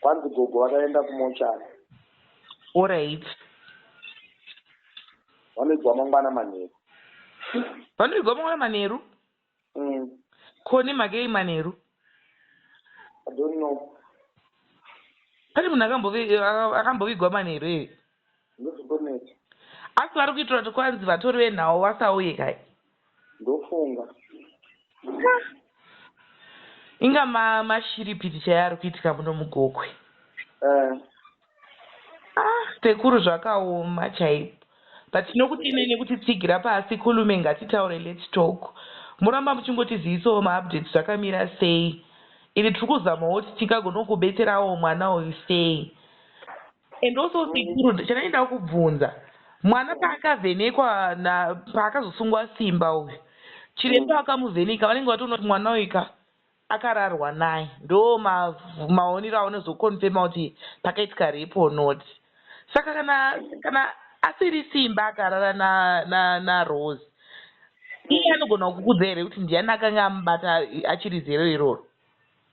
Kwanzi gogo vakaenda kumochari. Alright. Vanoigwa mangwana manheru. Vanoigwa mangwana manheru? Mm. Koni makei manheru? I don't know. Pane munhu akambovigwa manheru here? ndozviboneti asi vari kuitira kuti kwanzi vatori venhau vasauye kai ndofunga inga mashiripiti chaiyo ari kuitika muno mugokwe eh. ah, sekuru zvakaoma chaipo but tinokuti ine nekuti tsigira pasi kulume ngatitaure lets talk muramba muchingotizivisawo maupdate zvakamira sei ini tiri kuzamawo kuti tingagonokubetserawo mwana uyu sei and also sekuru chandainda kubvunza mwana paakavhenekwa paakazosungwa simba uyu chiremba vakamuvheneka vanenge vatoona kuti mwana uyu ka akararwa naye ndo maonero aonozokonfema kuti pakaitika repo not saka kana kana asiri simba akarara narose iye anogona kukudza here kuti ndiani akanga amubata achiri zero iroro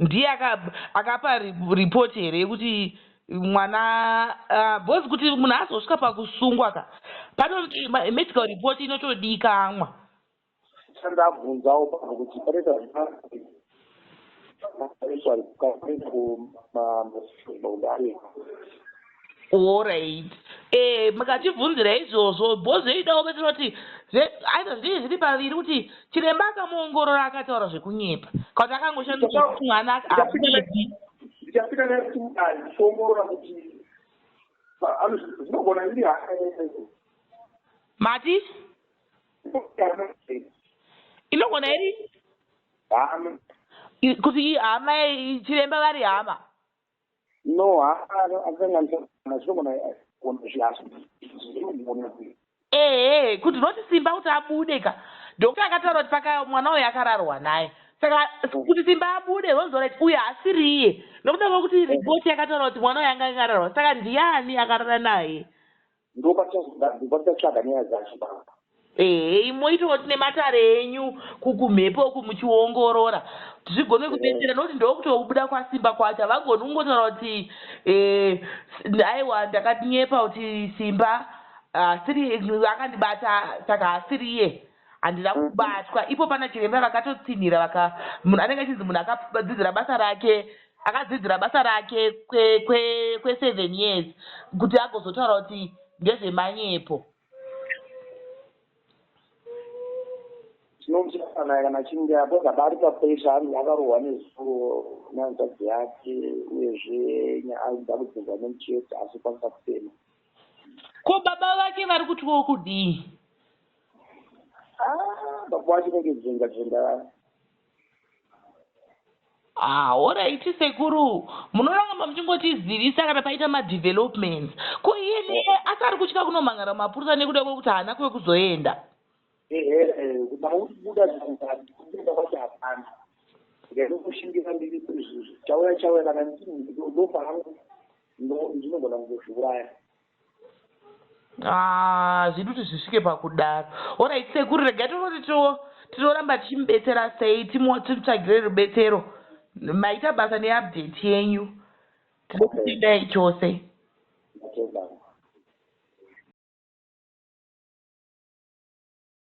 ndiye akapa report here yekuti mwana ah, bcause kuti munhu azosvika pakusungwa ka panoti medical report inotodikamwa chandabvunzawo pano kuti panoita zvaakuenda kumasoaare Horaiti eeh mukatibvunzira izvozvo bozvidawo vedu tinoti zve either zvinenge zviri paviri kuti chiremba akamuongorora akataura zvekunyepa kana kuti akangoshandisa kuti mwana haabiki. Ndichapinda naye kuti mudare tichiongorora kuti zvinogona iri hana yaiyo. Mati? Inogona iri? Hama. Kuti hama chiremba vari hama. No haana akanganisa zvinogona gona zvihazi. Ehe could not Simba kuti abude ka doctor akataura kuti paka mwana uyu akararwa naye saka kuti Simba abude was alright uyu haasiriye nokuda kwekuti report yakataura kuti mwana uyu anga akararwa saka ndiani akarara naye ndopatichatsvaga nyaya dzacho baba ehe moitawo tine matare enyu kukumhepo uku muchiongorora zvigone kubetsera nokuti ndokutobuda kwasimba kwacho havagoni kungotaura kuti eh, aiwa ndakatinyepa kuti simba asiri akandibata saka asiri iye handina kubatwa ipo pana chiremba vakatotsinhira vaka munhu anenge achinzi munhu akadzidzira basa rake akadzidzira basa rake kweseven kwe, kwe seven years kuti agozotaura kuti ndezvemanyepo chinonzi kana kana chinge apedza bari papesha anenge akarohwa nezuro nanzadzi yake uyezve aida kudzinza nemuchete asi kwanisa kufema ko baba vake vari kutyawo kudii Ah, baba wacho kunge dzenga dzenga vaya Ah, oraiti sekuru munoramba muchingotizivisa kana paita madevelopments ko iye neye asi ari kutya kunomhan'ara mapurisa nekuda kwekuti haana kuve kuzoenda ehe kutama kuti buda zvanzati kubuda kwacho hapana ndinokushingira ndiri chauya chauya kana ndinofa hangu ndinogona kuzozviuraya Ah, zvidi kuti zvisvike pakudaro orit sekuru regai tonoti tinoramba tichimubetsera sei timutsvagire rubetsero maita basa neupdate yenyu tinokutendai chose